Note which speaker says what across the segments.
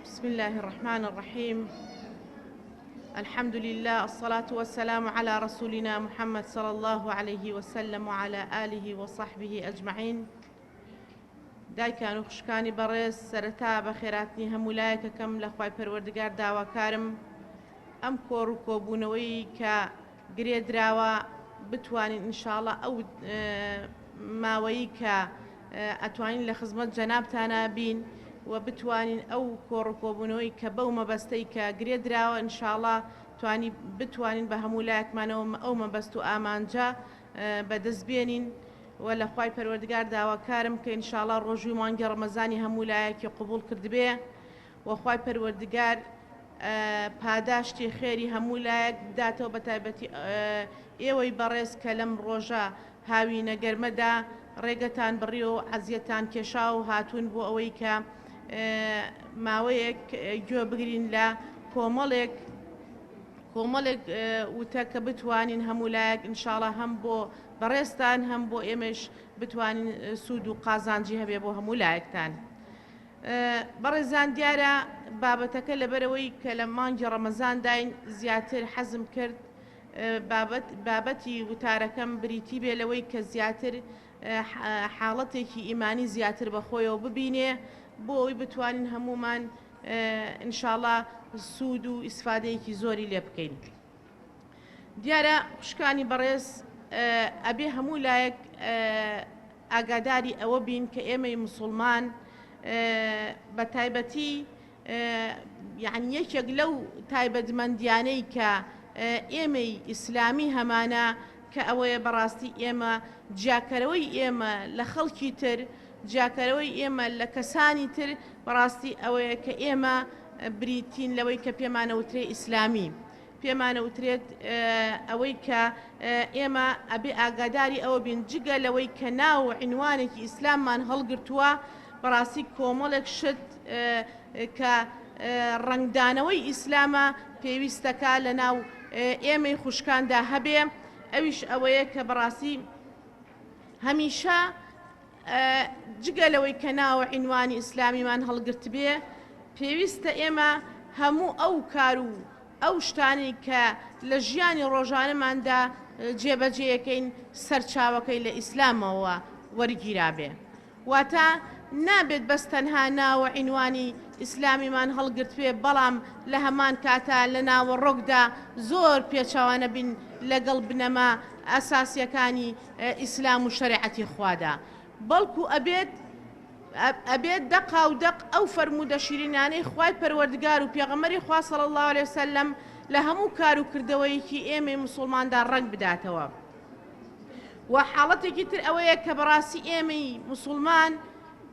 Speaker 1: بسم اللە الرحمن الرحیم الحمد للە الصلاة والسلام علی رسولنا محمد صلی اللە علیه وسلم وعلى آله وصحبه اجمعین دایکان و خوشکانی بەڕێز سەرەتا بە خێراتنی هەموو لایەکەکەم لە خوای پەروەردگار داواکارم ئەم کۆڕ و کۆبوونەوەی کە گرێدراوە بتوانین ان شاءاللە ئەو ماوەیی کە ئەتوانین لە خزمەت جەنابتانا بین و بتوانین ئەو کۆڕ و کۆبوونەوەی کە بەو مەبەستەی کە گرێ دراوە ان شاءاللە توانی بتوانین بە هەموو لایەکمانەوە ئەو مەبەست و ئامانجە بەدەست بێنین و لە خوای پەروەردگار داواکارم کە ان شاءاللە ڕۆژووی مانگی ڕەمەزانی هەموو لایەکی قبوڵ کردبێ وە خوای پەروەردگار پاداشتی خێری هەموو لایەک بداتەوە بەتایبەتی ئێوەی بەڕێز کە لەم ڕۆژە هاوینە گەرمەدا ڕێگەتان بڕیوە و عەزیەتان کێشا و هاتوون بۆ ئەوەی کە ماوەیەک گوێ بگرین لە کۆمەڵێک کۆمەڵێک وتە کە بتوانین هەموو لایەک انشاءڵە هەم بۆ بەڕێزتان هەم بۆ ئێمەش بتوانین سوود و قازانجی هەبێ بۆ هەموو لایەکتان. بەڕێزان دیارە بابەتەکە لەبەرەوەی کە لە مانگی ڕەمەزانداین زیاتر حەزم کرد بابەتی وتارەکەم بریتی بێ لەوەی کە زیاتر حاڵەتێکی ئیمانی زیاتر بەخۆیەوە ببینێ بۆ ئەوی بتوانین هەمومان انشاءاللە سوود و ئیسفادەیەکی زۆری لێ بکەین. دیارە خوشکانی بەڕێز ئەبێ هەموو لایەک ئاگاداری ئەوە بین کە ئێمەی مسلمان بە تایبەتی یعنی یەکێک لەو تایبەتمەندیانەی کە ئێمەی ئیسلامی هەمانە کە ئەوەیە بەڕاستی ئێمە جیاکەرەوەی ئێمە لە خەڵکی تر جیاکەرەوەی ئێمە لە کەسانی تر بەڕاستی ئەوەیە کە ئێمە بریتین لەوەی کە پێمانەوترێ ئیسلامی، پێمانەوترێت ئەوەی کە ئێمە ئەبێ ئاگاداری ئەوە بین جگە لەوەی کە ناو و عینوانێکی ئیسلاممان هەڵگرتووە بەڕاستی کۆمەڵێک شت کە ڕەنگدانەوەی ئیسلامە پێویستەکە لە ناو ئێمەی خوشکاندا هەبێ ئەویش ئەوەیە کە بەڕاستی هەمیشە جگە لەوەی کە ناوە عینوانی ئیسلامیمان هەڵگرتبێ پێویستە ئێمە هەموو ئەو کار و ئەو شتانی کە لە ژیانی ڕۆژانەماندا جێبەجێەکەین سەرچاوەکەی لە ئیسلامەوە وەرگیرابێ واتە نابێت بەس تەنها ناوە عینوانی ئیسلامیمان هەڵگرتوێ بەڵام لە هەمان کاتا لە ناوەڕۆکدا زۆر پێچوانە بین لەگەڵ بنەما ئەساسیەکانی ئیسلام و شەرێعەتی خوادا بەڵکو ئەبێت ئەبێت دەقا و دەق ئەو فەرموودە شیرینانەی خوای پەروەردگار و پێغەمەری خوا صلی الله علیه وسلم لە هەموو کار و کردەوەیەکی ئێمەی مسوڵماندا ڕەنگ بداتەوە و حاڵەتێکی تر ئەوەیە کە بەڕاستی ئێمەی مسوڵمان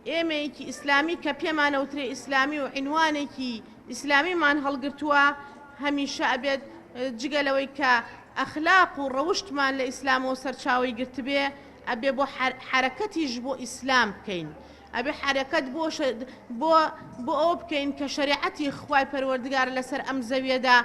Speaker 1: ئێمەیەکی ئیسلامی کە پێمانەوترێ ئیسلامی و عینوانێکی ئیسلامیمان هەڵگرتووە هەمیشە ئەبێت جگە لەوەی کە ئەخلاق و ڕەوشتمان لە ئیسلامەوە سەرچاوەی گرتبێ ئەبێ بۆ حرەکەتیش بۆ ئیسلام بکەین ئەبێ حرەکەت بۆ بۆ بۆ ئەو بکەین کە شریعەتی خی پەروەردگار لەسەر ئەم زەویەدا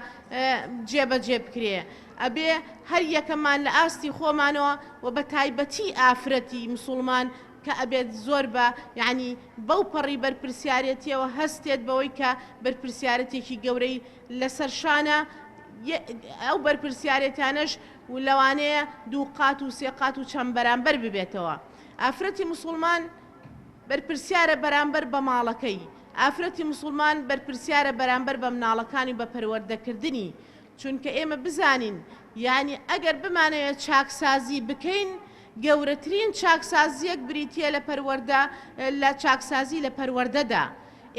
Speaker 1: جێبەجێ بکرێ ئەبێ هەر یەکەمان لە ئاستی خۆمانەوە و بە تایبەتی ئافرەتی مسلمان کە ئەبێت زۆر بە یەعنی بەو پەڕی بەرپرسیارێتیەوە هەستێت بەوەی کە بەرپرسیارەتێکی گەورەی لەسەر شانە یە ئەو بەرپرسیارێتانەش و لەوانەیە دوو قات و سێ قات و چەند بەرامبەر ببێتەوە ئافرەتی موسوڵمان بەرپرسیارە بەرامبەر بە ماڵەکەی ئافرەتی موسوڵمان بەرپرسیارە بەرامبەر بە مناڵەکانی و بە پەروەردەکردنی چونکە ئێمە بزانین یانی ئەگەر بمانەوێت چاکسازی بکەین گەورەترین چاکسازیەک بریتیە لە پەروەردە لە چاکسازی لە پەروەردەدا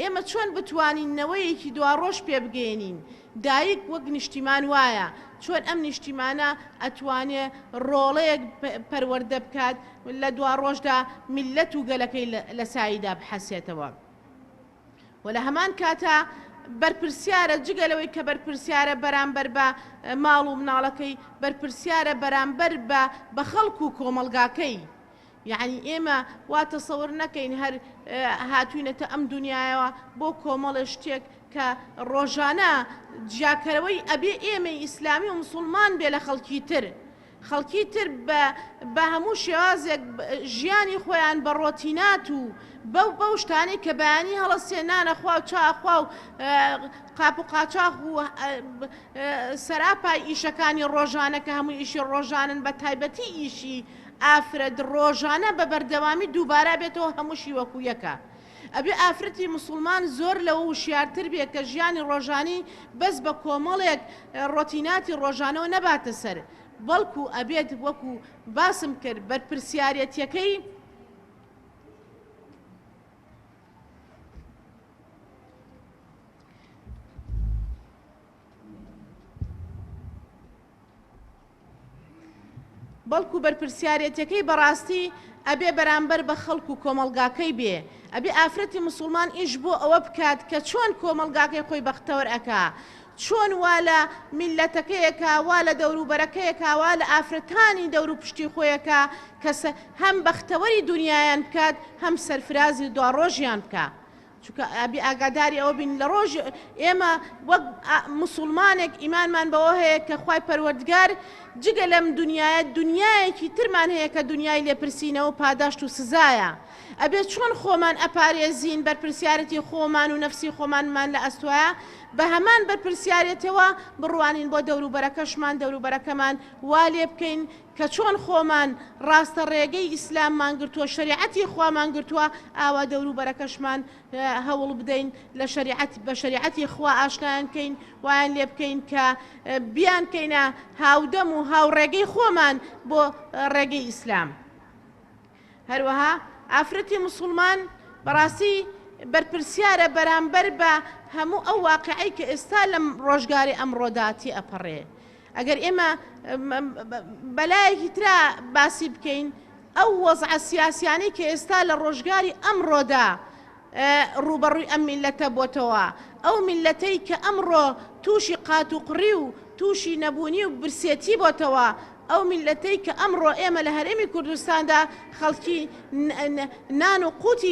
Speaker 1: ئێمە چۆن بتوانین نەوەیەکی دواڕۆژ پێبگەێنین دایک وەک نیشتیمان وایە چۆن ئەم نیشتیمانە ئەتوانێ ڕۆڵەیەک پەروەەردە بکات لە دواڕۆژدا میلەت و گەلەکەی لە ساییدا بحەسێتەوە. و لە هەمان کاتا بەرپرسیارە جگە لەوەی کە بەرپرسیارە بەرامبەر بە ماڵ و مناڵەکەی بەرپرسیارە بەرامبەر بە بە خەڵک و کۆمەلگاکەی یعنی ئێمە وا تەسەور نەکەین هەر هاتوینەتە ئەم دنیاەوە بۆ کۆمەڵە شتێک کە ڕۆژانە جیاکەرەوەی ئەبێ ئێمە ئیسلامی و مسلمان بێ لە خەڵکی تر خەڵکی تر بە هەموو شێوازێک ژیانی خۆیان بە ڕۆتینات و بەو بەو شتانەی کە بەیانی هەڵەسێ نانە خوا و چا خوا و قاپ و قاچاخ و سەراپای ئیشەکانی ڕۆژانە کە هەموو ئیشی ڕۆژانن بە تایبەتی ئیشی ئافرەت ڕۆژانە بە بەردەوامی دووبارە بێتەوە هەمووشی وەکوو یەکە. ئەبێ ئافرەتی موسوڵمان زۆر لەوە وشیارتر بێ کە ژیانی ڕۆژانی بەس بە کۆمەڵێک ڕۆتیناتی ڕۆژانەوە نەباتە سەر بەڵکو ئەبێت وەکو باسم کرد بەرپرسیارێتیەکەی بەڵکو بەرپرسیارێتەکەی بەڕاستی ئەبێ بەرامبەر بە خەڵک و کۆمەڵگاکەی بێ ئەبێ ئافرەتی مسوڵمان ئیش بۆ ئەوە بکات کە چۆن کۆمەڵگاکەی خۆی بەختەوەر ئەکا چۆن وا لە میلەتەکەیەکە وا لە دەوروبەرەکەیەکە وا لە ئافرەتانی دەورو پشتی خۆیەکە کەسە هەم بەختەوەری دنیایان بکات هەم سەرفرازی دواڕۆژیان بکە چونکە ئەبێ ئاگاداری ئەوە بین لە ڕۆژ ئێمە وەک مسوڵمانێک ئیمانمان بەوە هەیە کە خوای پەروەردگار جگە لەم دنیاە دنیایەکی ترمان هەیە کە دنیای لێپرسینەوە پاداشت و سزایە ئەبێ چۆن خۆمان ئەپارێزین بەرپرسیارەتی خۆمان و نەفسی خۆمانمان لە ئەستوایە بە هەمان بەرپرسیارەتەوە بڕوانین بۆ دەوروبەرەکەشمان دەوروبەرەکەمان وا لێ بکەین کە چۆن خۆمان ڕاستە ڕێگەی ئیسلاممان گرتووە شەریعەتی خوامان گرتووە ئاوا دەوروبەرەکەشمان هەوڵ بدەین لە شەریعەت بە شەریعەتی خوا ئاشنایان کەین وایان لێ بکەین کە بیان کەینە هاودەم و هاوڕێگەی خۆمان بۆ ڕێگەی ئیسلام. هەروەها ئافرەتی موسوڵمان بەڕاستی بەرپرسیارە بەرامبەر بە هەموو ئەو واقعی کە ئێستا لەم ڕۆژگاری ئەمڕۆدا تێئەپەڕێ ئەگەر ئێمە بەلایەکی ترا باسی بکەین ئەو وەزعە سیاسیانەی کە ئێستا لە ڕۆژگاری ئەمڕۆدا ڕووبەڕووی ئەم میللەتە بۆتەوە، ئەو میللەتەی کە ئەمڕۆ تووشی قاتوقڕی و تووشی نەبوونی و برسێتی بۆتەوە، ئەو میللەتەی کە ئەمڕۆ ئێمە لە هەرێمی کوردستاندا خەڵکی نان و قووتی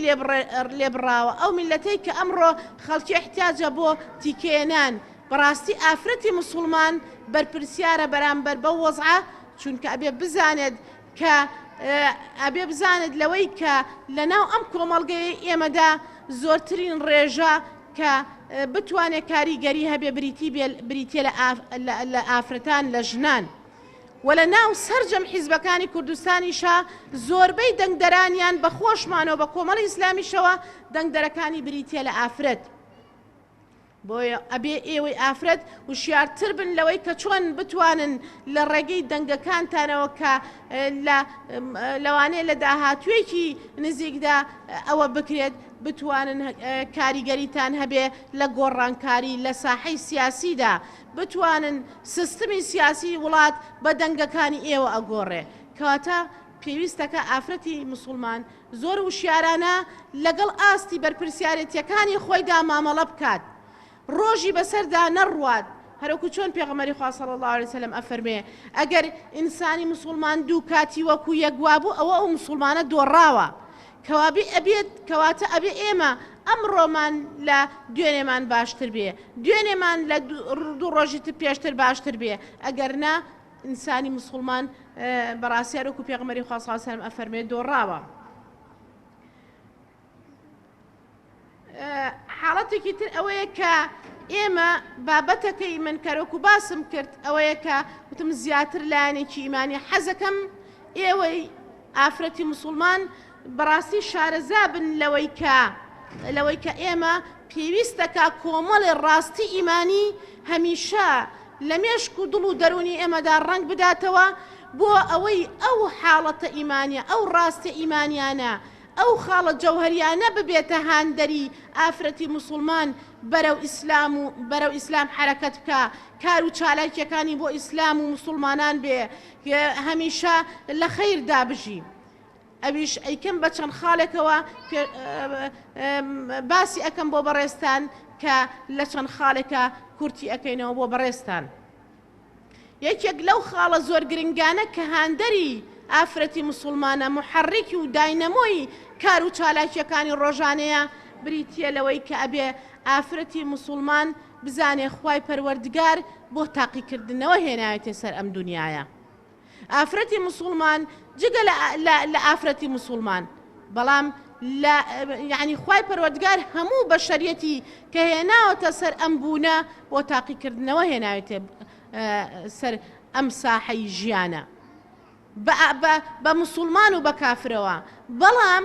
Speaker 1: لێ بڕاوە، ئەو میللەتەی کە ئەمڕۆ خەڵکی احتیاجە بۆ تیکەیە نان، بەڕاستی ئافرەتی موسوڵمان بەرپرسیارە بەرامبەر بەو وەزعە، چونکە ئەبێ بزانێت، کە ئەبێ بزانێت لەوەی کە لە ناو ئەم کۆمەڵگەی ئێمەدا زۆرترین ڕێژە کە بتوانێت کاریگەری هەبێ بریتی بریتە لە ئافرەتان لە ژنان. و لە ناو سرجەم حیزبەکانی کوردستانیشە زۆربەی دەنگدەرانیان بە خۆشمانەوە بە کۆمەڵی ئیسلامیشەوە دەنگدەرەکانی بریتە لە ئافرەت. بۆیە ئەبێ ئێوەی ئافرەت وشیارتر بن لەوەی کە چۆن بتوانن لە ڕێگەی دەنگەکانتانەوە کە لەوانەیە لە داهاتوێکی نزیکدا ئەوە بکرێت بتوانن کاریگەریتان هەبێ لە گۆڕانکاری لە ساحەی سیاسیدا بتوانن سستمی سیاسی وڵات بە دەنگەکانی ئێوە ئەگۆڕێ کەواتە پێویستەکە ئافرەتی مسلمان زۆر وشیارانە لەگەڵ ئاستی بەرپرسیارێتیەکانی خۆیدا مامەڵە بکات ڕۆژی بەسەردا نەڕوات هەرۆکو چۆن پێغەمەری خوا صلی اللە علیە وسلم ئەفەرموێ ئەگەر ئینسانی موسوڵمان دوو کاتی وەکو یەک وابوو ئەوە ئەو موسوڵمانە دۆڕاوە کەوابی ئەبێت کەواتە ئەبێ ئێمە ئەمڕۆمان لە دوێنێمان باشتر بێ دوێنێمان لە دوو ڕۆژی تر پێشتر باشتر بێ ئەگەر نا ئینسانی موسوڵمان بەڕاستیار وەکو پێغمەری خوا صلی سلم ئەفەرمێ دۆڕاوە حاڵەتێکی تر ئەوەیە کە ئێمە بابەتەکەی من کەرۆکو باسم کرد ئەوەیە کە وتم زیاتر لایەنێکی ئیمانی حەزەکەم ئێوەی ئافرەتی مسلمان بەڕاستی شارەزا بن لەوەی کە لەوەی کە ئێمە پێویستە کە کۆمەڵێ ڕاستی ئیمانی هەمیشە لە مێشک و دڵ و دەروونی ئێمەدا ڕەنگ بداتەوە بۆ ئەوەی ئەو حاڵەتە ئیمانیە ئەو ڕاستە ئیمانیانە ئەو خاڵە جەوهەریانە ببێتە هاندەری ئافرەتی موسڵمان بەرەو ئیسلام و بەرەو ئیسلام حەرەکەت بکە کار و چالاکیەکانی بۆ ئیسلام و موسڵمانان بێ هەمیشە لە خەیردا بژی ئەویش ئەیکەم بە چەند خالێکەوە باسی ئەکەم بۆ بەڕێزتان کە لە چەند خالێکە کورتی ئەکەینەوە بۆ بەڕێزتان یەکێک لەو خاڵە زۆر گرنگانە کە هاندەری ئافرەتی مسلمانە محەڕێکی و داینەمۆی کار و چالاکیەکانی ڕۆژانەیە بریتە لەوەی کە ئەبێ ئافرەتی مسلمان بزانێ خی پەروەردگار بۆ تاقیکردنەوە هێنایەتێ سەر ئەم دنیاە ئافرەتی مسوڵمان جگە لە ئافرەتی مسوڵمان بەڵام یعنی خی پەروەردگار هەموو بە شەریەتی کە هێناوەتە سەر ئەم بوونە بۆ تاقیکردنەوە هێناوێتێ سەر ئەم ساحەی ژیانە بە مسلمان و بە کافرەوە بەڵام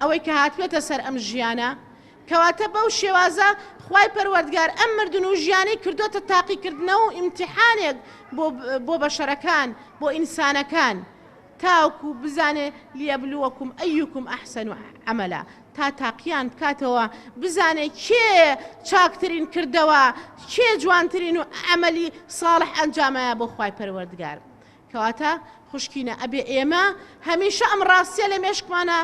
Speaker 1: ئەوەی کە هاتووەتە سەر ئەم ژیانە، کەواتە بەو شێوازە خوای پەروەردگار ئەم مردن و ژیانەی کردۆتە تاقیکردنەوە و ئیمتیحانێک بۆ بۆ بەشەرەکان بۆ ئینسانەکان تاوکو بزانێ لیەبلوەکوم ئەیوکوم ئەحسەن عەمەلا تا تاقیان بکاتەوە بزانێ کێ چاکترین کردەوە کێ جوانترین و عەمەلی ساڵح ئەنجامایە بۆ خوای پەروەردگار کەواتە خوشکینە ئەبێ ئێمە هەمیشە ئەم ڕاستیە لە مێشکمانە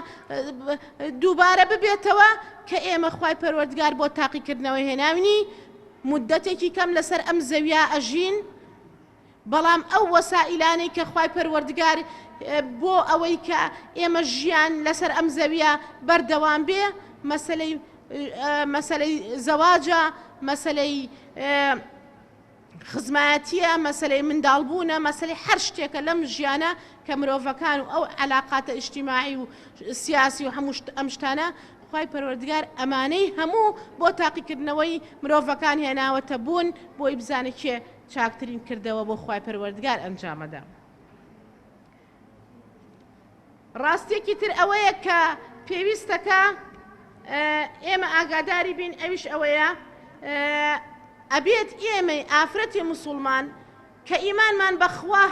Speaker 1: دووبارە ببێتەوە کە ئێمە خوای پەروەردگار بۆ تاقیکردنەوە هێناوینی مدەتێکی کەم لەسەر ئەم زەویا ئەژین بەڵام ئەو وەسائلانەی کە خوای پەروەردگار بۆ ئەوەی کە ئێمە ژیان لەسەر ئەم زەویە بەردەوام بێ مەسلەی مەسلەی زەواجە مەسلەی خزمایەتیە، مەسەلەی منداڵبوونە، مەسەلەی هەر شتێکە لەم ژیانە کە مرۆڤەکان و ئەو عەلاقاتە ئیجتیماعی و سیاسی و هەموو شت ئەم شتانە خوای پەروەردگار ئەمانەی هەموو بۆ تاقیکردنەوەی مرۆڤەکان هێناوەتە بوون بۆی بزانێ کێ چاکترین کردەوە بۆ خوای پەروەردگار ئەنجامەدا. ڕاستیەکی تر ئەوەیە کە پێویستەکە ئێمە ئاگاداری بین ئەویش ئەوەیە ئەبێت ئێمەی ئافرەتی مسلمان کە ئیمانمان بەخوا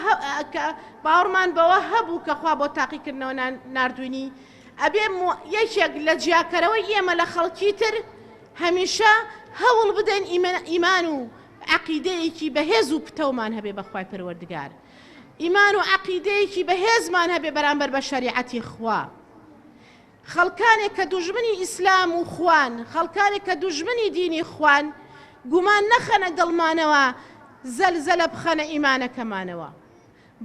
Speaker 1: باوەڕمان بەوە هەبوو کە خوا بۆ تاقیکردنەوە نردوینی ئەبێ یەکێک لە جیاکەرەوەی ئێمە لە خەڵکی تر هەمیشە هەوڵ بدەین ئیمان و عقیدەیەکی بەهێز و پتەومان هەبێ بەخوای پەروەردگار ئیمان و عەقیدەیەکی بەهێزمان هەبێ بەرامبەر بە شەریعەتی خوا. خەڵکانێک کە دوژمنی ئیسلام و خوان، خەڵکانێک کە دوژمنی دینی خوان، گومان نەخەنە دڵمانەوە، زەلزەلە بخەنە ئیمانەکەمانەوە.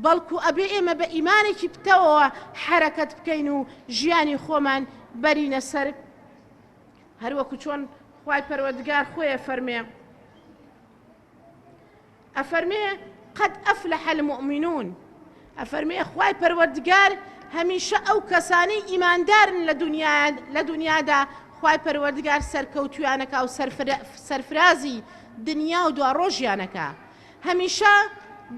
Speaker 1: بەڵکو ئەبێ ئێمە بە ئیمانێکی پتەوەوە حەرەکەت بکەین و ژیانی خۆمان بەرینە سەر، هەروەکو چۆن خوای پەروەردگار خۆی ئەفەرمێ. ئەفەرمێ، قد افلح المومنون، ئەفەرمێ، خوای پەروەردگار هەمیشە ئەو کەسانەی ئیماندارن لە دونیادا خوای پەروەردگار سەرکەوتوویانەکا و سەرفرازی دنیا و دواڕۆژیانەکا، هەمیشە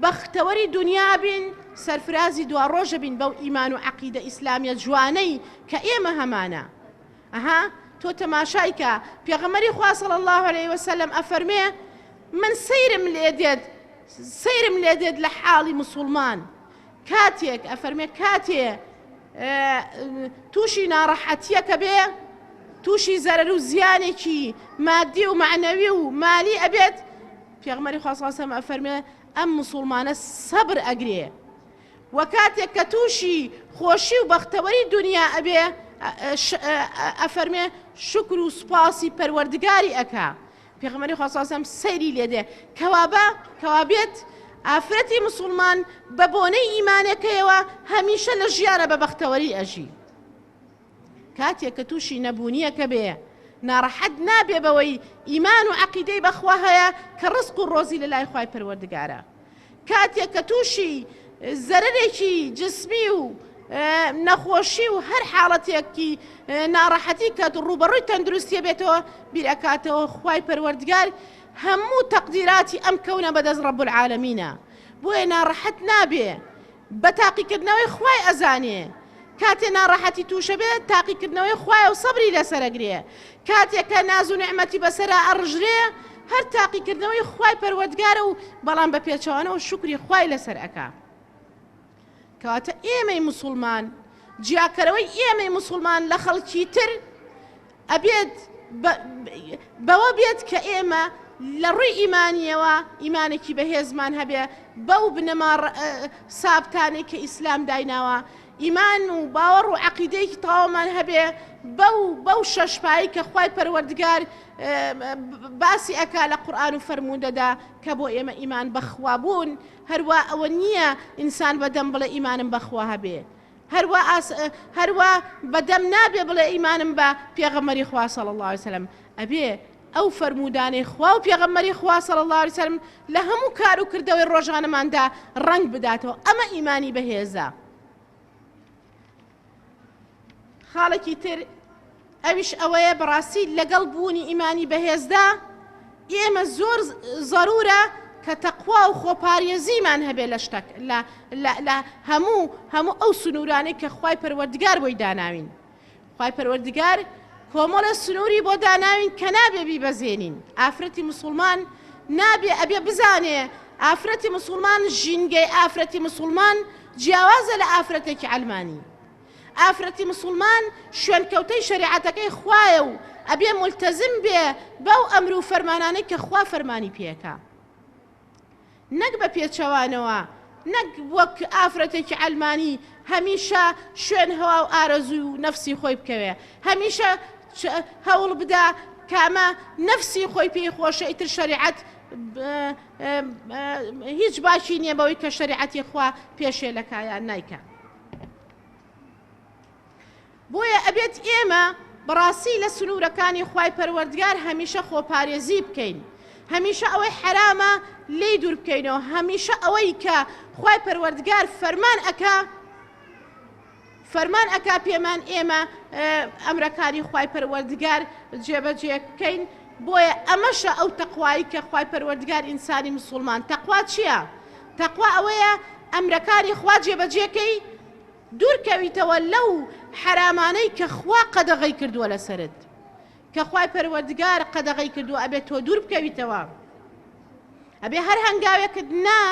Speaker 1: بەختەوەری دونیا بین سەرفرازی دواڕۆژە بین بەو ئیمان و عەقیدە ئیسلامیە جوانەی کە ئێمە هەمانە ئەها تۆ تەماشای کە، پێغەمبەری خوا صلی اللە علیە وسلم ئەفەرمێ، من سەیرم لێ دێت سەیرم لێ دێت لە حاڵی مسوڵمان کاتێک ئەفەرمێ کاتێ تووشی ناڕەحەتیەکە بێ تووشی زەرەر و زیانێکی مادی و معنەوی و مالی ئەبێت پێغمەری خواستەم ئەفەرمێ ئەم مسلمانە سەبر ئەگرێ وە کاتێک کە توشی خۆشی و بەختەوەری دونیا ئەبێ ئەفەرمێ شوکر و سوپاسی پەروەردگاری ئەکا پێغەمەری خواستاسم سەیری لێدێ کەوابە کەوابێت ئافرەتی مسلمان بە بۆنەی ئیمانەکەیەوە هەمیشە لە ژیانە بە بەختەوەری ئەژی کاتێک کە تووشی نەبوونییەکە بێ ناڕەحەت نابێ بەوەی ئیمان و عەقیدەی بە خوا هەیە کە ڕزق و ڕۆزی لە لای خوای پەروەردگارە کاتێک کە تووشی زەرەرێکی جسمی و نەخۆشی و هەر حاڵەتێکی ناڕەحەتی کە ڕوبەڕووی تەندروستیە بێتەوە بیرەکاتەوە خوای پەروەردگار هەموو تەقدیراتی ئەم کەونە بەدەست ڕەب العالمینە بۆیە ناڕەحەت نابێ بە تاقیکردنەوەی خوای ئەزانێ کاتێ ناڕەحەتی توشە بێ تاقیکردنەوەی خوایە و سەبری لەسەر ئەگرێ کاتێ کە ناز و نیعمەتی بەسەرا ئەڕژرێ هەر تاقیکردنەوەی خوای پەروەردگارە و بەڵام بە پێچەوانەوە شوکری خوای لەسەر ئەکا کەواتە ئێمەی موسوڵمان جیاکەرەوەی ئێمەی موسوڵمان لە خەڵکی تر ئەبێت بەوە بێت کە ئێمە لە ڕووی ئیمانیەوە ئیمانێکی بەهێزمان هەبێ بەو بنەما سابتانەی کە ئیسلام دایناوە ئیمان و باوەڕ و عقیدەیەکی تاوامان هەبێ بەو بەو شەشپایی کە خی پەروەردگار باسی ئەکا لە قورآان و فەرموودەدا کە بۆ ئێمە ئیمان بەخوا بوون هەروە ئەوە نییە ئینسان بەدەم بڵێ ئیمانم بەخوا هەبێ هەر وا بە دەم نابێ بڵێ ئیمانم بە پێغەمبەری خوا صلی اللە علیە وسلم ئەبێ ئەو فەرموودانەی خوا و پێغەمبەری خوا صلی اللە علیە وسلم لە هەموو کار و کردەوەی ڕۆژانەماندا ڕەنگ بداتەوە ئەمە ئیمانی بەهێزە خاڵێکی تر ئەویش ئەوەیە بەڕاستی لەگەڵ بوونی ئیمانی بەهێزدا ئێمە زۆر زەرورە کە تەقوا و خۆپاریێزیمان هەبێ لە شتەک لە هەموو هەموو ئەو سنوورانەی کە خی پەروەردگار بۆی داناوین خی پەروەردگار کۆمەڵە سنووری بۆ داناوین کە نابێ بیبەزێنین ئافرەتی مسلمان نابێ ئەبێ بزانێ ئافرەتی مسلمان ژینگەی ئافرەتی مسلمان جیاوازە لە ئافرەتێکی ئەلمانی ئافرەتی مسوڵمان شوێنکەوتەی شەریعەتەکەی خوایە و ئەبێ مولتەزم بێ بەو ئەمر و فەرمانانەی کە خوا فەرمانی پێکا نەک بە پێچەوانەوە نەک وەک ئافرەتێکی عەلمانی هەمیشە شوێن هەوا و ئارەزوی و نەفسی خۆی بکەوێ هەمیشە هەوڵ بدا کامە نەفسی خۆی پێی خۆشە ئیتر شەریعەت هیچ باشی نییە بەوەی کە شەریعەتی خوا پێشێ لە کایان نایکە. بۆیە ئەبێت ئێمە بەڕاستی لە سنوورەکانی خوای پەروەردگار هەمیشە خۆپارێزی بکەین هەمیشە ئەوەی حرامە لی دوور بکەینەوە هەمیشە ئەوەی کە خوای پەروەردگار فەرمان ئەکا فەرمان ئەکا پێمان ئێمە ئەمرەکانی خوای پەروەردگار جێبەجێ بکەین بۆیە ئەمەشە ئەو تەخوایی کە خوای پەروەردگار ئینسانی مسلمان تەخوا چییە؟ تەقوا ئەوەیە ئەمرەکانی خوا جێبەجێ کەی دوور کەویتەوە لەو حەرامانەی کە خوا قەدەغەی کردووە لەسەرت کە خوای پەروەردگار قەدەغەی کردووە ئەبێ تۆ دوور بکەویتەوە ئەبێ هەر هەنگاوێکت نا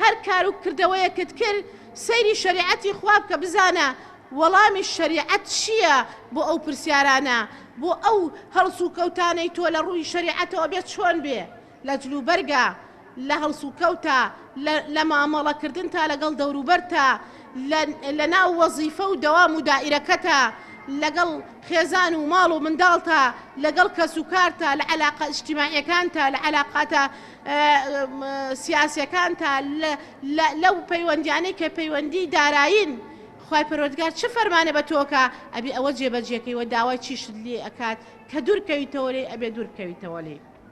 Speaker 1: هەر کار و کردەوەیەکت کرد سەیری شریعەتی خوا بکە بزانە وەڵامی شریعەت چییە بۆ ئەو پرسیارانە بۆ ئەو هەڵسوکەوتانەی تۆ لە ڕووی شریعەتەوە بێ چۆن بێ لە جلوبەرگە، لە هەڵسوکەوتە، لە لە مامەڵەکردن تا لەگەڵ دەوروبەرتە، لە لە ناو وەزیفە و دەوام و دائیرەکەتە، لەگەڵ خێزان و ماڵ و منداڵتە، لەگەڵ کەسوکارتە، لە عەلاقە ئیجتیماعیەکانتە، لە عەلاقاتە سیاسیەکانتە، لە لە لەو پەیوەندیانەی کە پەیوەندی دارایین، خوای پەروەردگار چ فەرمانێ بە تۆ کا ئەبێ ئەوە جێبەجێ کەی و داوای چیشت لێ ئەکات کە دوور کەویتەوە لێی ئەبێ دوور بکەویتەوە لێی.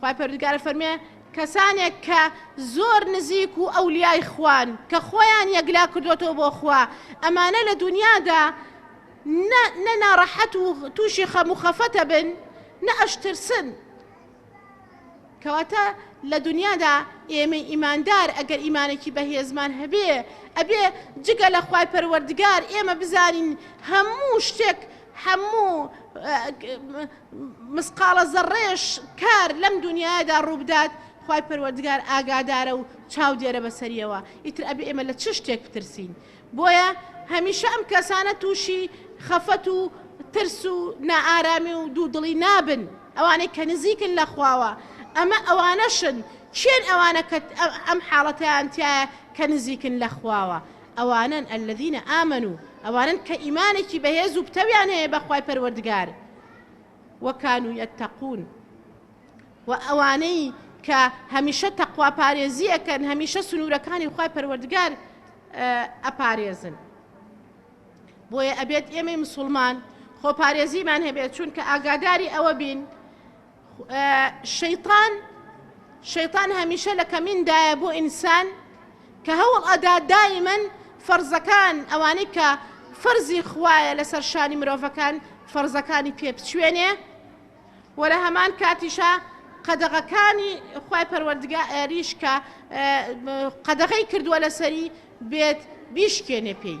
Speaker 1: خوای پەروەردگار فەرمێ کەسانێک کە زۆر نزیک و ئەولیای خوان کە خۆیان یەکلا کردوەتەوە بۆ خوا ئەمانە لە دنیادا نە ناڕەحەت و تووشی خەم و خەفەتە بن نە ئەشترسن کەواتە لە دنیادا ئێمەی ئیماندار ئەگەر ئیمانێکی بەهێزمان هەبێ ئەبێ جگە لە خوای پەروەردگار ئێمە بزانین هەموو شتێک هەموو مسقاڵە زەڕڕەیەش کار لەم دونیایەدا ڕووبدات خوای پەروەردگار ئاگادارە و چاودێرە بەسەریەوە ئیتر ئەبێ ئێمە لە چ شتێک بترسین بۆیە هەمیشە ئەم کەسانە تووشی خەفەت و ترس و نائارامی و دوودڵی نابن ئەوانەی کە نزیکن لە خواوە ئەمە ئەوانەشن چێن ئەوانە کە ئەم حاڵەتیان تایە کە نزیکن لە خواوە ئەوانەن، الذین آمنوا، ئەوانەن کە ئیمانێکی بەهێز و پتەویان هەیە بە خوای پەروەردگار، و کانوا یتقون، و ئەوانەی کە هەمیشە تەقوا پارێزی ئەکەن، هەمیشە سنوورەکانی خوای پەروەردگار ئەپارێزن. بۆیە ئەبێت ئێمەی مسوڵمان خۆپارێزیمان هەبێت، چونکە ئاگاداری ئەوە بین، شەیتان شەیتان هەمیشە لە کەمین دایە بۆ ئینسان کە هەوڵ ئەدا دایمەن فەرزەکان ئەوانەی کە فەرزی خوایە لەسەر شانی مرۆڤەکان فەرزەکانی پێ بچوێنێ وە لە هەمان کاتیشە قەدەغەکانی خی پەروەردگا ئەریش کە قەدەغی کردووە لەسەری بێت بیشکێنێ پێی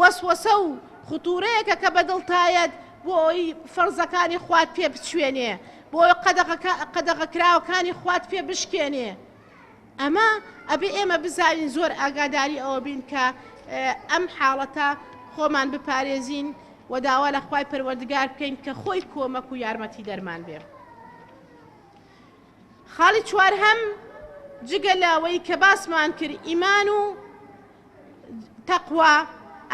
Speaker 1: وەسوەسە و ختوورەیەکە کە بە دڵتایەت بۆ ئەوەی فەرزەکانی خوات پێ بچوێنێ، بۆ ئەوەی قەدەغەکە قەدەغەکراوەکانی خوات پێ بشکێنێ. ئەمە ئەبێ ئێمە بزانین زۆر ئاگاداری ئەوە بین کە ئەم حاڵەتە خۆمان بپارێزین و داوا لە خوای پەروەردگار بکەین کە خۆی کۆمەک و یارمەتیدەرمان بێ. خاڵی چوارهەم، جگە لەوەی کە باسمان کرد ئیمان و تەقوا،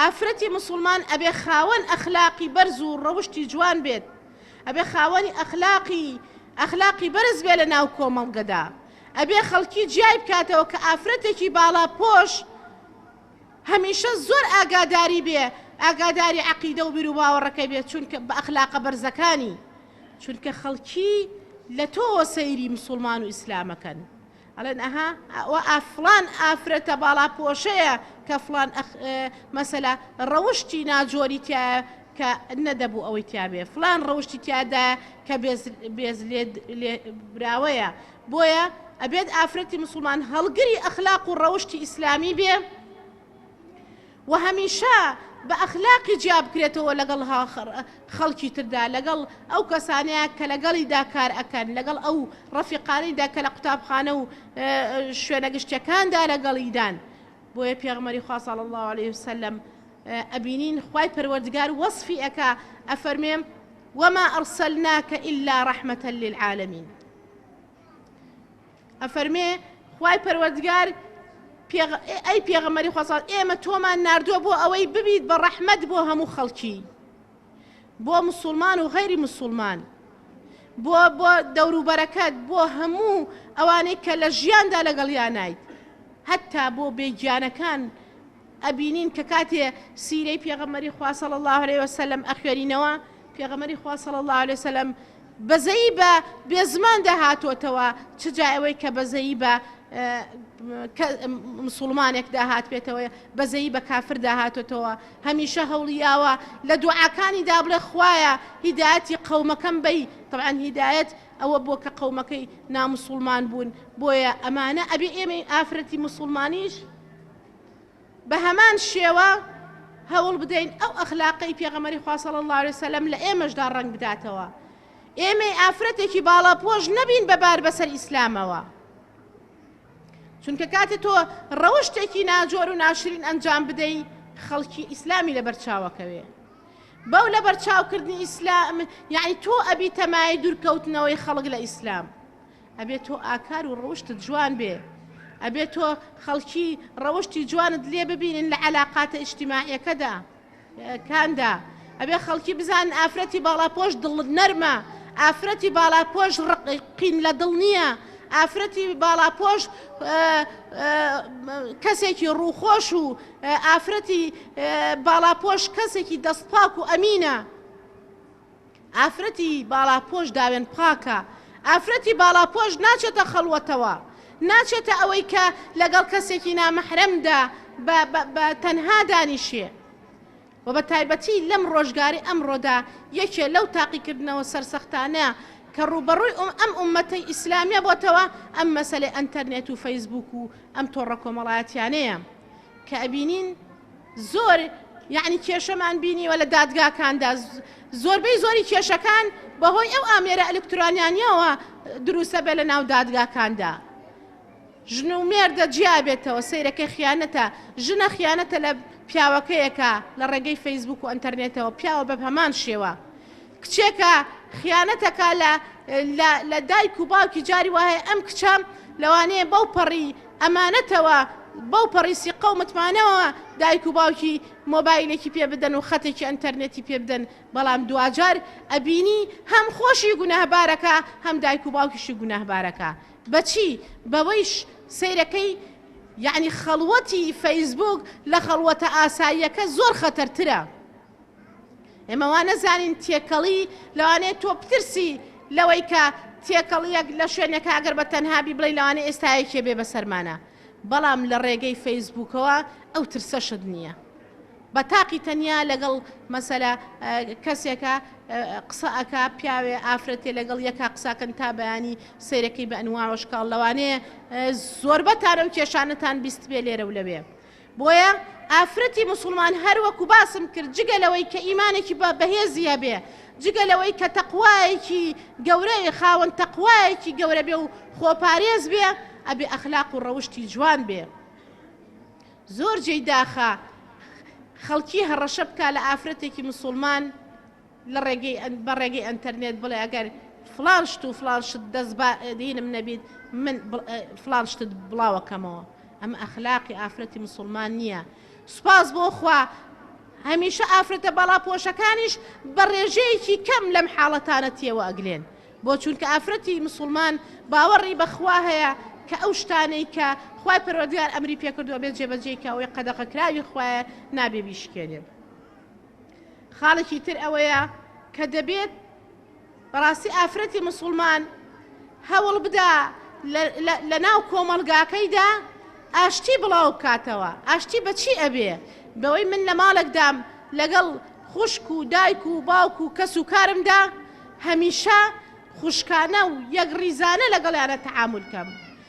Speaker 1: ئافرەتی مسوڵمان ئەبێ خاوەن ئەخلاقی بەرز و ڕەوشتی جوان بێت، ئەبێ خاوەنی ئەخلاقی ئەخلاقی بەرز بێت لە ناو کۆمەڵگەدا، ئەبێ خەڵکی جیای بکاتەوە کە ئافرەتێکی باڵاپۆش، هەمیشە زۆر ئاگاداری بێ ئاگاداری عەقیدە و بیروباوەڕەکەی بێ چونکە بە ئەخلاقە بەرزەکانی چونکە خەڵکی لە تۆوە سەیری مسوڵمان و ئیسلام ئەکەن ئەڵێن ئەها ئەوە ئا فڵان ئافرەتە باڵا پۆشەیە کە فڵان ئەخ مەسەلا ڕەوشتی ناجۆری تایە کە نەدەبوو ئەوەی تیاێ فلان ڕەوشتی تیادایە کە بێز لێ براوەیە بۆیە ئەبێت ئافرەتی مسوڵمان هەڵگری ئەخلاق و ڕەوشتی ئیسلامی بێ و هەمیشە بە ئەخلاقی جیا بکرێتەوە لەگەڵ خەڵکی تردا لەگەڵ ئەو کەسانەیە کە لەگەڵیدا کار ئەکەن لەگەڵ ئەو ڕەفیقانیدا کە لە قوتابخانە و شوێنە گشتەکاندا لەگەڵیدان بۆیە پێغمەری خواساڵ الله عليه وسلم ئەبینین خی پەروەردگار وەصفی ئەکا ئەفەرمێم وما أرسلناك إلا رحمة للعالمين ئەفەرمێ خوای پەروەردگار ئەی پێغەمەری خۆسان ئێمە تۆمان نردووە بۆ ئەوەی ببیت بە ڕەحمەت بۆ هەموو خەڵکی بۆ مسلمان و غەیری مسلمان بۆ بۆ دەوروبەرەکەت بۆ هەموو ئەوانەی کە لە ژیاندا لەگەڵیانیت هەتا بۆ بێگیانەکان ئەبینین کە کاتێ سیرەی پێغەمبەری خوا صلی اللە علیە وسلم ئەخوێنینەوە پێغەمبەری خوا صلی اللە علیە وسلم بەزەیی بە بێزماندا هاتۆتەوە چ جا ئەوەی کە بەزەیی بە مسلمانێکدا هاتبێتەوە بەزەیی بە کافردا هاتۆتەوە هەمیشە هەوڵیاوە لە دوعاکانی دابڵێ خوایە هیداەتی قەومەکەم بی طبعاً هیدایەت ئەوە بۆ کە قەومەکەی نامسلمان بوون بۆیە ئەمانە ئەبێ ئێمەی ئافرەتی مسلمانیش بەهەمان شێوە هەوڵ بدەین ئەو ئەخلاقەی پێغەمەری خواسەڵ الله عليه وسلم لە ئێمەشدا ڕنگ بداتەوە ئێمەی ئافرەتێکی باڵا پۆش نەبین بەبار بەسەر ئیسلامەوە چونکە کاتێ تۆ ڕەوشتێکی ناجۆر و ناشرین ئەنجام بدەی خەڵکی ئیسلامی لە بەرچاوەکەوێ بەو لە بەرچاوکردنی ئیسلام یعنی تۆ ئەبی تەمای دوورکەوتنەوەی خەڵک لە ئیسلام ئەبێ تۆ ئاکار و ڕەوشتت جوان بێ ئەبێ تۆ خەڵکی ڕەوشتی جوانت لێ ببینن لە علااقاتە ئیشتیماعەکەدا کاندا ئەبێ خەڵکی بزان ئافرەتی باڵاپۆش دڵ نەرمە ئافرەتی باڵاپۆش ڕقین لە دڵ نییە ئافرەتی باڵاپۆش کەسێکی ڕووخۆش و ئافرەتی باڵاپۆش کەسێکی دەستپاک و ئەمینە. ئافرەتی باڵاپۆش داوێن پاکە، ئافرەتی باڵاپۆش ناچێتە خەڵوەتەوە، ناچێتە ئەوەی کە لەگەڵ کەسێکی نامەحرەمدا بە بە تەنها دانیشێ و بە تایبەتی لەم ڕۆژگاری ئەمڕۆدا یەکێ لەو تاقیکردنەوە سەرسەختانە کە ڕووبەڕووی ئەم ئوممەتەی ئیسلامیە بۆتەوە ئەم مەسەلەی ئەنتەرنێت و فەیسبووک و ئەم تۆڕە کۆمەڵایەتیانەیە. کە ئەبینین زۆر یعنی کێشەمان بینیوە لە دادگاکاندا زۆربەی زۆری کێشەکان بەهۆی ئەو ئامێرە ئەلکترانیانیەوە دروستە بێ لە ناو دادگاکاندا. ژن و مێردە جیابێتەوە سیرەکە خیانەتە ژنە خیانەتە لە پیاوەکەیەکە لە ڕێگەی فەیسبوک و ئەتەرنێتەوە پیاوە بە هەمان شێوە کچێکە خیانەتەکە لە لە دایک و باوکی جاری وایە ئەم کچەم لەوانەیە بەو پەڕی ئەمانەتەوە بەو پەڕی سیقەو متمانەوە دایک و باوکی مۆبایلێکی پێ بدەن و خەتێکی ئەنتەرنێتی پێ بدەن بەڵام دواجار ئەبینی هەم خۆشی گوناهبارەکا هەم دایک و باوکیشی گوناهبارەکا بەچی بەوەیش سەیرەکەی یەعنی خەڵوەتی فەیسبووک لە خەڵوەتە ئاساییەکە زۆر خەتەرترە. ئێمە وا نەزانین تێکەڵی لەوانەیە تۆ بترسی لەوەی کە تێکەڵیەک لە شوێنێک ئەگەر بە تەنهابی بڵی لەوانە ئێستایەکێ بێ بەسەرمانە بەڵام لە ڕێگەی فەیسبووکەوە ئەو ترسەشت نییە. بە تاقی تەنیا لەگەڵ مەسەلا کەسێکە قسە ئەک پیاوێ ئافرەتێ لەگەڵ یەکا قساکەن تا بەیانی سیرەکەی بە ئەنواوەشکاڵ لەوانەیە زۆربەتانە و کێشانەتان بیست بێ لێرە و لەوێ. بۆیە ئافرەتی موسوڵمان هەر وەکو باسم کرد جگە لەوەی کە ئیمانێکی بە بەهێزی هەبێ جگە لەوەی کە تەقوایەکی گەورەی خاوەن تەقوایەکی گەورە بێ و خۆپارێز بێ ئەبێ ئەخلاق و ڕەوشتی جوان بێ زۆر جێی داخە خەڵکی هەڕەشە بکا لە ئافرەتێکی مسلمان لە ڕێگەی ئەن بە ڕێگەی ئەنتەرنێت بڵێ ئەگەر فڵان شت و فڵان شت دەست با دینم نەبیت من فڵان شتت بڵاوەکەمەوە ئەمە ئەخلاقی ئافرەتی مسلمان نییە سوپاس بۆ خوا هەمیشە ئافرەتە باڵا پۆشەکانیش بە ڕێژەیەکی کەم لەم حاڵەتانە تێوە ئەگلێن بۆ چونکە ئافرەتی مسلمان باوەڕی بەخوا هەیە کە ئەو شتانەی کە خی پەرۆدیار ئەمری پێکردووە بێ جێبەجێکەوەی قەدەقەکراوی خوایە نابێ بیشکێنێ خاڵێکی تر ئەوەیە کە دەبێت بەڕاستی ئافرەتی مسلمان هەوڵ بدا لە ناو کۆمەلگاکەیدا ئاشتی بڵاو بکاتەوە ئاشتی بەچی ئەبێ بەوەی من لە ماڵێکدام لەگەڵ خوشک و دایک و باوک و کەس و کارمدا هەمیشە خوشکانە و یەک ڕیزانە لەگەڵیانە تەعامل کەم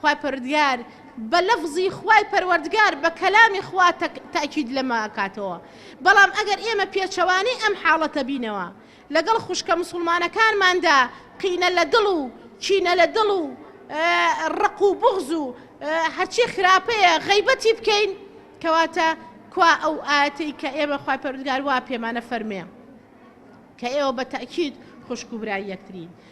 Speaker 1: خوای پەروەردگار بە لەفزی خوای پەروەردگار بە کەلامی خوا تەئکید لەمە ئەکاتەوە بەڵام ئەگەر ئێمە پێچەوانەی ئەم حاڵەتە بینەوە لەگەڵ خوشکە موسوڵمانەکانماندا قینە لە دڵ و کینە لە دڵ و ڕق و بوغز و هەرچی خراپەیە غەیبەتی بکەین کەواتە کوا ئەو ئاتەی کە ئێمە خوای پەروەردگار وا پێمانە فەرمێ کە ئێوە بە تەئکید خوشک و برای یەکترین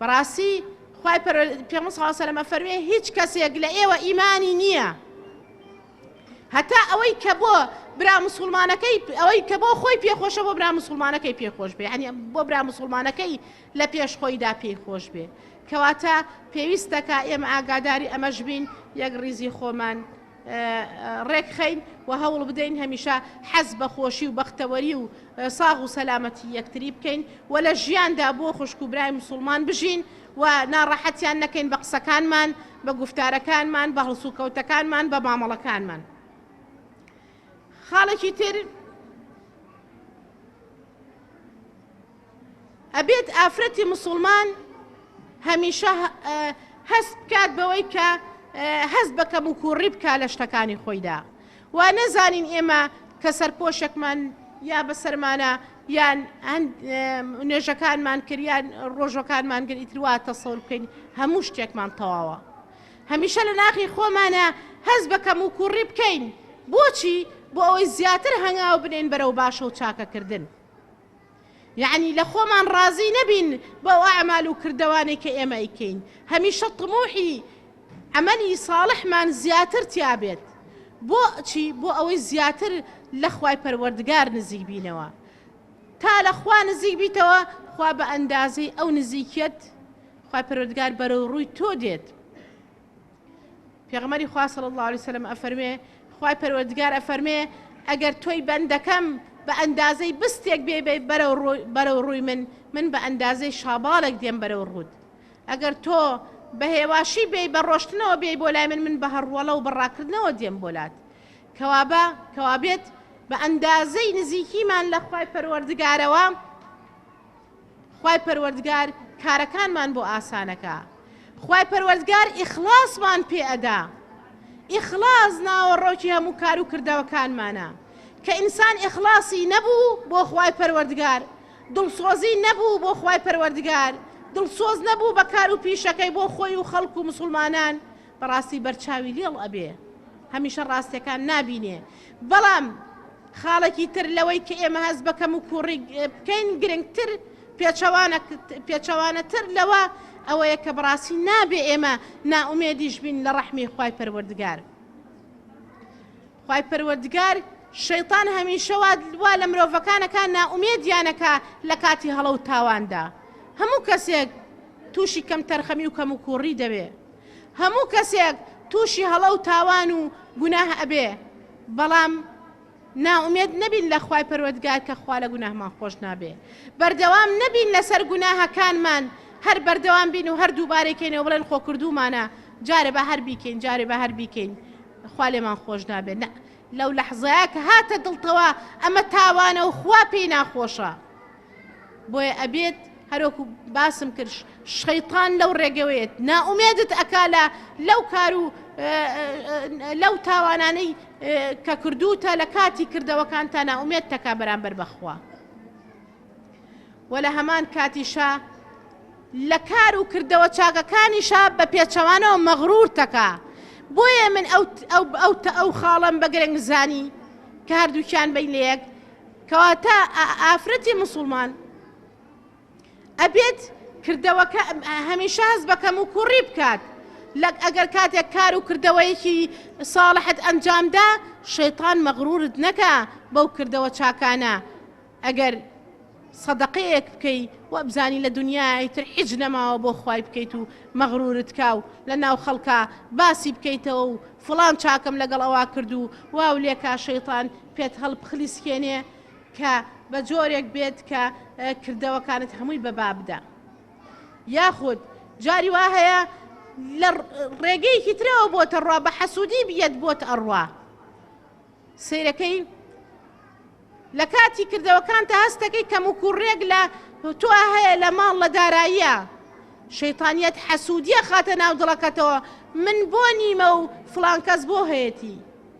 Speaker 1: بەڕاستی خوای پەروەردگار پێغەمبەر صلی اللە علیە و سلم ئەفەرموێ هیچ کەسێک لە ئێوە ئیمانی نییە هەتا ئەوەی کە بۆ برا مسلمانەکەی ئەوەی کە بۆ خۆی پێخۆشە بۆ برا مسلمانەکەی پێخۆش بێ ینی بۆ برا مسلمانەکەی لە پێش خۆیدا پێی خۆش بێ کەواتە پێویستەکە ئێمە ئاگاداری ئەمەش بین یەک ڕیزی خۆمان ڕێکخەین و هەوڵبدەین هەمیشە حەز بە خۆشی و بەختەوەری و ساغ و سەلامەتی یەکتری بکەین و لە ژیاندا بۆ خوشک و برای مسوڵمان بژین و ناڕەحەتیان نەکەین بە قسەکانمان بە گفتارەکانمان بە هەڵسوکەوتەکانمان بە مامەڵەکانمان خاڵێکی تر ئەبێت ئافرەتی مسوڵمان هەمیشە هەست بکات بەوەی کە هەست بە کەموکووڕی بکا لە شتەکانی خۆیدا وا نەزانین ئێمە کە سەرپۆشێکمان یا بەسەرمانە یان نوێژەکانمان کردیان ڕۆژەکانمان گر ئیتروا تەسەور بکەین هەموو شتێکمان تەواوە هەمیشە لە ناخی خۆمانە هەست بە کەم و کوڕی بکەین بۆچی بۆ ئەوەی زیاتر هەنگاو بنین بەرەو باشە و چاکەکردن. یەعنی لە خۆمان ڕازی نەبین بەو ئەعمال و کردەوانەی کە ئێمە ئەیکەین، هەمیشە طموحی عەمەلی صاڵحمان زیاتر تیا بێت، بۆ چی؟ بۆ ئەوەی زیاتر لە خوای پەروەردگار نزیک بینەوە، تا لە خوا نزیک بیتەوە خوا بە ئەندازەی ئەو نزیکیەت خوای پەروەردگار بەرەو ڕووی تۆ دێت، پێغەمبەری خوا صلی اللە علیە وسلم ئەفەرمێ خوای پەروەردگار ئەفەرمێ ئەگەر تۆی بەندەکەم بە ئەندازەی بستێک بێ بێ بەرەو ڕووی من من بە ئەندازەی شاباڵێک دێم بەرەو ڕوود ئەگەر تۆ بە هێواشی بێ بە ڕۆشتنەوە بێ بۆ لای من من بە هەڕوەڵە و بەڕاکردنەوە دێم بۆلات کەوابە کەوابێت بە ئەندازەی نزیکیمان لە خی پەروەردگارەوە خوای پەروەردگار کارەکانمان بۆ ئاسانەکا خوای پەروەردگار ئیخڵاسمان پێ ئەدا ئیخڵاس ناوەڕۆکی هەموو کار و کردەوەکانمانە کە ئینسان ئیخڵاسی نەبوو بۆ خوای پەروەردگار دڵسۆزی نەبوو بۆ خوای پەروەردگار دڵسۆز نەبوو بە کار و پیشەکەی بۆ خۆی و خەڵک و مسوڵمانان بەڕاستی بەرچاوی لێڵ ئەبێ هەمیشە ڕاستەکان نابینێ بەڵام خاڵێکی تر لەوەی کە ئێمە هەست بە کەم و کوڕی بکەین گرنگتر پێچەوانە تر لەوە ئەوەیە کە بڕاستی نابێ ئێمە ناومێدیش بین لە ڕەحمی خی پەروەردگار خی پەروەردگار شەیتان هەمیشەوە وا لە مرۆڤەکانەکە ناومێدیانەکە لە کاتی هەڵە و تاواندا هەموو کەسێک تووشی کەم تەرخەمی و کەم و کوڕی دەبێت هەموو کەسێک تووشی هەڵە و تاوان و گوناه ئەبێ بەڵام نائومێد نەبین لە خوای پەروەردگار کە خوا لە گوناهمان خۆش نابێ بەردەوام نەبین لەسەر گوناهەکانمان هەر بەردەوام بین و هەر دووبارەی کەینەوە بڵێن خۆ کردومانە جارێ بە هەر بیکەین جارێ بە هەر بیکەین خوا لێمان خۆش نابێت نە لەو لەحزەیە کە هاتە دڵتەوە ئەمە تاوانە و خوا پێی ناخۆشە. بۆیە ئەبێت هەرۆکو باسم کرد شەیتان لەو ڕێگەوەیەت نائومێدت ئەکا لە لەو کار و لەو تاوانانەی کە کردوتە لە کاتی کردەوەکان تا ناومێت تەکا بەرامبەر بەخوا وە لە هەمان کاتیشە لە کار و کردەوە چاکەکانیشە بە پێچەوانەوە مەغرور تەکا بۆیە من ئەو ئەو خاڵم بە گرنگ زانی کە هەردووکیان بین لە یەک کەواتە ئافرەتی موسوڵمان ئەبێت کردەوەکە هەمیشە هەست بە کەم و کوڕی بکات لەک ئەگەر کاتێک کار و کردەوەیەکی ساڵحت ئەنجامدا شەیتان مەغرورت نەکە بەو کردەوە چاکانە ئەگەر سەدەقەیەک بکەی وەبزانی لە دنیای تر حیج نەماوە بۆ خی بکەیت و مەغرورت کا و لە ناو خەڵکە باسی بکەیتەوە و فلان چاکەم لەگەڵ ئەوا کردو واو لێکا شەیتان پێت هەڵبخلیسکێنێ کە بە جۆرێک بێت کە کردەوەکانت هەمووی بە با بدا یاخود جاری وا هەیە لە ڕێگەیەکی ترەوە بۆتە ڕوا بە حەسوودی بیەت بۆت ئەڕوا سیرەکەی لە کاتی کردەوەکان تا هەستەکەی کەم و کوڕێک لە تۆ هەیە لە ماڵ لە داراییە شەیتانیت حەسوودیە خاتە ناو دڵەکەتەوە من بۆ نیمە و فلانکەس بۆ هەیەتی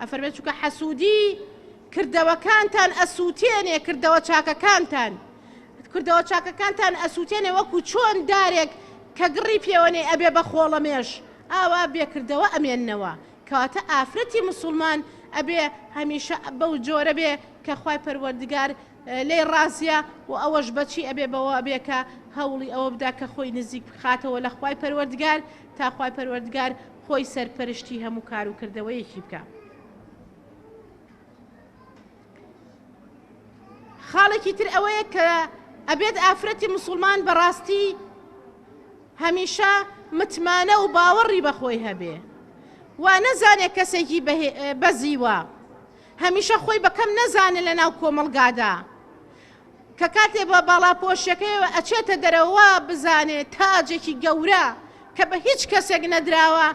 Speaker 1: ئەفەرمێت چونکە حەسودی کردەوەکانتان ئەسوتێنێ کردەوە چاکەکانتان کردەوە چاکەکانتان ئەسوتێنێ وەکو چۆن دارێک کە گڕی پێوەێ ئەبێ بە خۆڵەمێش ئاوا بێکردەوە ئەمێنەوە کەواتە ئافرەتی مسلمان ئەبێ هەمیشە بەو جۆرە بێ کە خی پەروەردگار لێ ڕازە و ئەوەش بەچی ئەبێ بەوە بێکە هەوڵی ئەوە بدا کە خۆی نزیک بخاتەوە لە خی پەروەردگار تا خوای پەروەردگار خۆی سەرپەرشتی هەموو کار و کردەوەیەکی بکا. خاڵێکی تر ئەوەیە کە ئەبێت ئافرەتی مسوڵمان بەڕاستی هەمیشە متمانە و باوەڕی بەخۆی هەبێ وا نەزانێ کەسێکی بەزیوە هەمیشە خۆی بە کەم نەزانێ لە ناو کۆمەڵگادا کە کاتێ بە باڵاپۆشیەکەیەوە ئەچێتە دەرەوە وا بزانێ تاجێکی گەورە کە بە هیچ کەسێک نەدراوە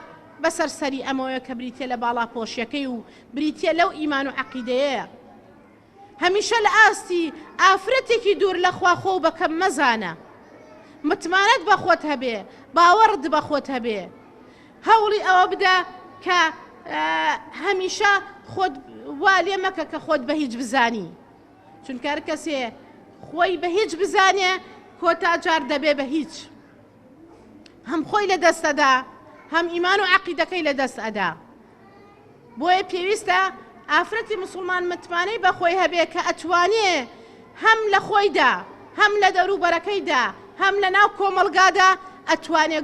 Speaker 1: بەسەر سەری ئەمەوەیە کە بریتە لە باڵاپۆشیەکەی و بریتە لەو ئیمان و عەقیدەیە هەمیشە لە ئاستی ئافرەتێکی دوور لە خوا خۆ بە کەم مەزانە متمانەت بە خۆت هەبێ باوەڕت بە خۆت هەبێ هەوڵی ئەوە بدە کە هەمیشە خۆت وا لێ مەکە کە خۆت بە هیچ بزانی چونکە هەر کەسێ خۆی بە هیچ بزانێ کۆتا جار دەبێ بە هیچ هەم خۆی لە دەستەدا هەم ئیمان و عقیدەکەی لە دەست ئەدا بۆیە پێویستە ئافرەتی موسڵمان متمانەی بەخۆی هەبێ کە ئەتوانێ هەم لە خۆیدا هەم لە دەوروبەرەکەیدا هەم لە ناو کۆمەڵگادا ئەتوانێ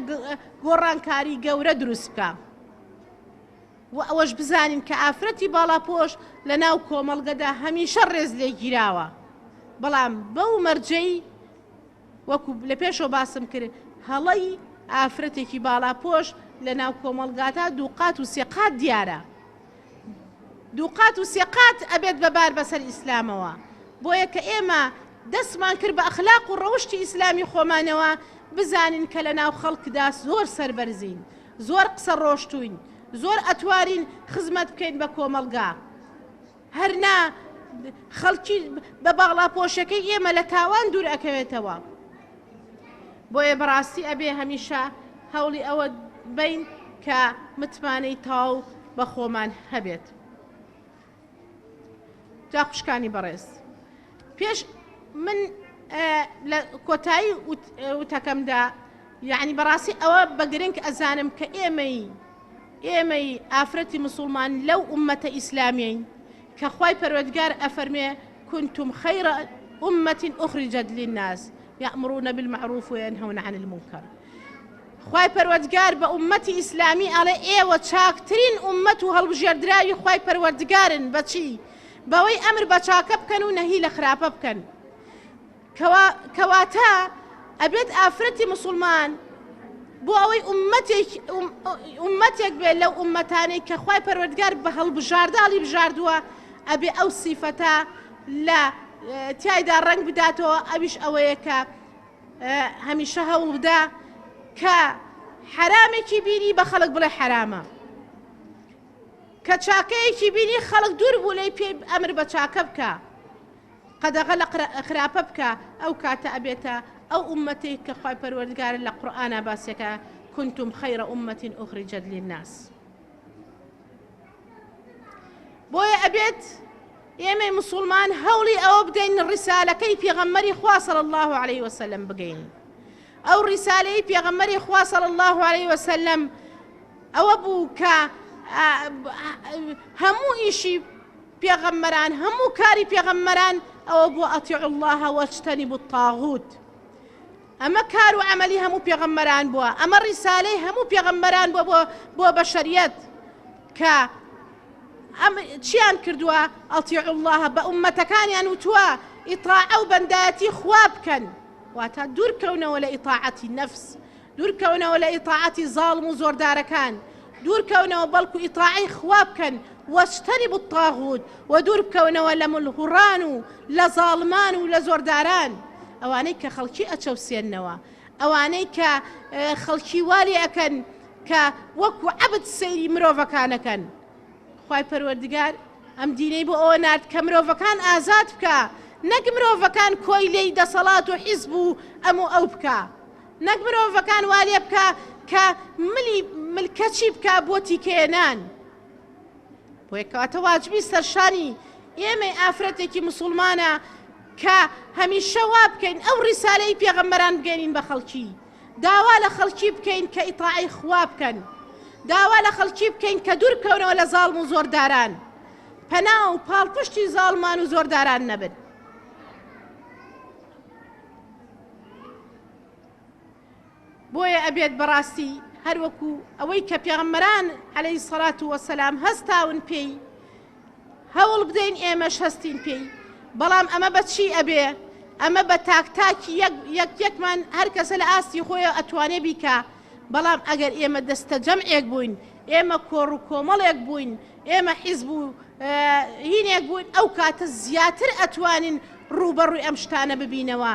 Speaker 1: گۆڕانکاری گەورە دروست بکە و ئەوەش بزانین کە ئافرەتی باڵاپۆش لە ناو کۆمەڵگەدا هەمیشە ڕێز لێگیراوە بەڵام بەو مەرجەی وەکو لە پێشەوە باسم کرد هەڵەی ئافرەتێکی باڵاپۆش لە ناو کۆمەڵگاتا دوو قات و سێ قات دیارە دوو قات و سێ قات ئەبێت بە بار بەسەر ئیسلامەوە بۆیە کە ئێمە دەستمان کرد بە ئەخلاق و ڕەوشتی ئیسلامی خۆمانەوە بزانین کە لە ناو خەڵکدا زۆر سربەرزین زۆر قسە ڕۆشتوین زۆر ئەتوارین خزمەت بکەین بە کۆمەڵگا هەر نا خەڵکی بە باڵاپۆشەکەی ئێمە لە تاوان دوور ئەکەوێتەوە بۆیە بەڕاستی ئەبێ هەمیشە هەوڵی ئەوە بین کە متمانەی تاو بە خۆمان هەبێت جا خوشکانی بەڕێز پێش من لە کۆتایی وتەکەمدا یعنی بەڕاستی ئەوە بە گرنگ ئەزانم کە ئێمەی ئێمەی ئافرەتی مسوڵمان لەو ئوممەتە ئیسلامیەین کە خوای پەروەردگار ئەفەرموێ کنتم خیرە ئوممەت ئوخریجەت للناس یامرون بالمعروف وینهون عن المنکر خوای پەروەردگار بە ئوممەتی ئیسلامی ئەڵێ ئێوە چاکترین ئوممەت و هەڵبژێردراوی خوای پەروەردگارن بەچی بەوەی ئەمر بە چاکە بکەن و نەهی لە خراپە بکەن کوا کەواتە ئەبێت ئافرەتی مسوڵمان بۆ ئەوەی ئومەتێک ئومەتێک بێت لەو ئومەتانەی کە خوای پەروەردگار بە هەڵبژارداڵی بژاردووە ئەبێ ئەو سیفەتە لە تایدا ڕنگ بداتەوە ئەویش ئەوەیە کە هەمیشە هەوڵ بدا کە حرامێکی بینی بە خەڵک بڵێ حرامە کە چاکەیەکی بینی خەڵک دوور بوو لی پێ ئەمر بە چاکە بکە قەدەغە لە خراپە بکە ئەو کاتە ئەبێتە ئەو ئوممەتەی کە خوای پەروەردگار لە قورئانا باسیەکە کنتم خیر امە اخرجت للناس بۆیە ئەبێت ئێمەی مسلمان هەوڵی ئەوە بدەین ڕیسالەکەی پێغەممەری خوا صلی الله عليه وسلم بگەین ئەو ڕیسالەی پێغەممەری خوا صلی الله عليه وسلم ئەوە بوو کە هەموو ئیشی پێغەمبەران هەموو کاری پێغەمبەران ئەوە بووە اطیعوا اللە واجتنبوا الطاغوت ئەمە کار و عملی هەموو پێغەمبەران بووە ئەمە ڕیسالەی هەموو پێغەمبەران بۆ بۆ بەشەریەت کە ئەم چیان کردووە ئەڵتی الله بە عومەتەکانیان وتووە ئیتاع ئەو بەندایەتی خوا بکەن واتا دوورکەونەوە لە ئیتاعەتی نەفس دوورکەونەوە لە ئیتاعەتی زاڵم و زۆردارەکان دوورکەونەوە بەڵکو ئیتاعەی خوا بکەن، واجتنبوا الطاغوت، وە دووربکەونەوە لە مل هوڕان و لە زاڵمان و لە زۆرداران ئەوانەی کە خەڵکی ئەچەوسێننەوە ئەوانەی کە خەڵکی وا لێ ئەکەن کە وەکو عەبد سەیری مرۆڤەکان ئەکەن خوای پەروەردگار ئەم دینەی بۆ ئەوە نارد کە مرۆڤەکان ئازاد بکا نەک مرۆڤەکان کۆیلەی دەسەڵات و حیزب و ئەم و ئەو بکا. نەک مرۆڤەکان وا لێ بکا کە ملی ملکەچی بکا بۆ تیکەیە نان. بۆیە کەواتە واجبی سەرشانی ئێمەی ئافرەتێکی مسوڵمانە کە هەمیشە وا بکەین ئەو ڕیسالەی پێغەمبەران بگەینین بە خەڵکی داوا لە خەڵکی بکەین کە ئیتاعی خوا بکەن داوا لە خەڵکی بکەین کە دوور کەونەوە لە زاڵم و زۆرداران پەنا و پاڵپشتی زاڵمان و زۆرداران نەبن بۆیە ئەبێت بەڕاستی هەروەکو ئەوەی کە پێغەمبەران عەلەیهی سەڵات و وەسەلام هەستاون پێی هەوڵ بدەین ئێمەش هەستین پێی بەڵام ئەمە بە چی ئەبێ ئەمە بە تاک تاکی یەک یەکمان هەر کەسە لە ئاستی خۆیە ئەتوانێ بیکە بەڵام ئەگەر ئێمە دەستە جەمعێک بووین ئێمە کۆڕ و کۆمەڵێک بووین ئێمە حیزب و هینێک بوون ئەو کاتە زیاتر ئەتوانین ڕووبەڕووی ئەم شتانە ببینەوە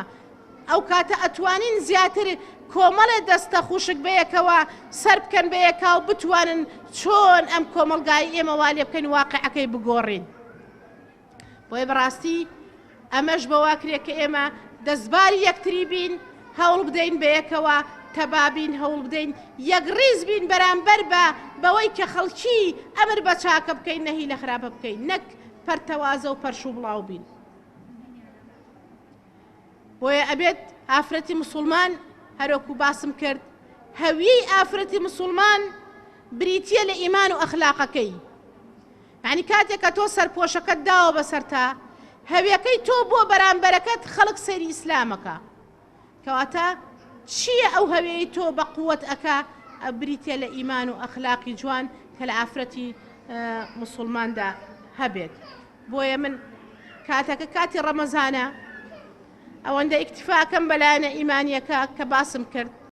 Speaker 1: ئەو کاتە ئەتوانین زیاتر کۆمەڵێ دەستە خوشک بەیەکەوە سەربکەن بەیەکاو بتوانن چۆن ئەم کۆمەڵگای ئێمە والێ بکەین واقعەکەی بگۆڕین بۆیە بەڕاستی ئەمەش بەوا کرێت کە ئێمە دەستباری یەکتری بین هەوڵ بدەین بە یەکەوە تەبابین هەوڵ بدەین یەک ڕیز بین بەرامبەر بە بەوەی کە خەڵکی ئەمر بە چاکە بکەین نەهی لە خراپە بکەین نەک پەرتەوازە و پەرش و بڵاو بین. بۆیە ئەبێت ئافرەتی مسوڵمان هەرۆکو باسم کرد هەویەی ئافرەتی مسوڵمان بریتە لە ئیمان و ئەخلاقەکەی ینی کاتێک کە تۆ سەرپۆشەکەت داوە بەسەرتا هەویەکەی تۆ بۆ بەرامبەرەکەت خەڵک سەری ئیسلامەکە کەواتە چییە ئەو هەوێی تۆ بە قووەت ئەکا بریتە لە ئیمان و ئەخلاقی جوان کە لە ئافرەتی مسلماندا هەبێت بۆیە من کاتەکە کاتی ڕەمەزانە ئەوەندە ئیکتیفاکەم بە لایەنە ئیمانیەکە کە باسم کرد.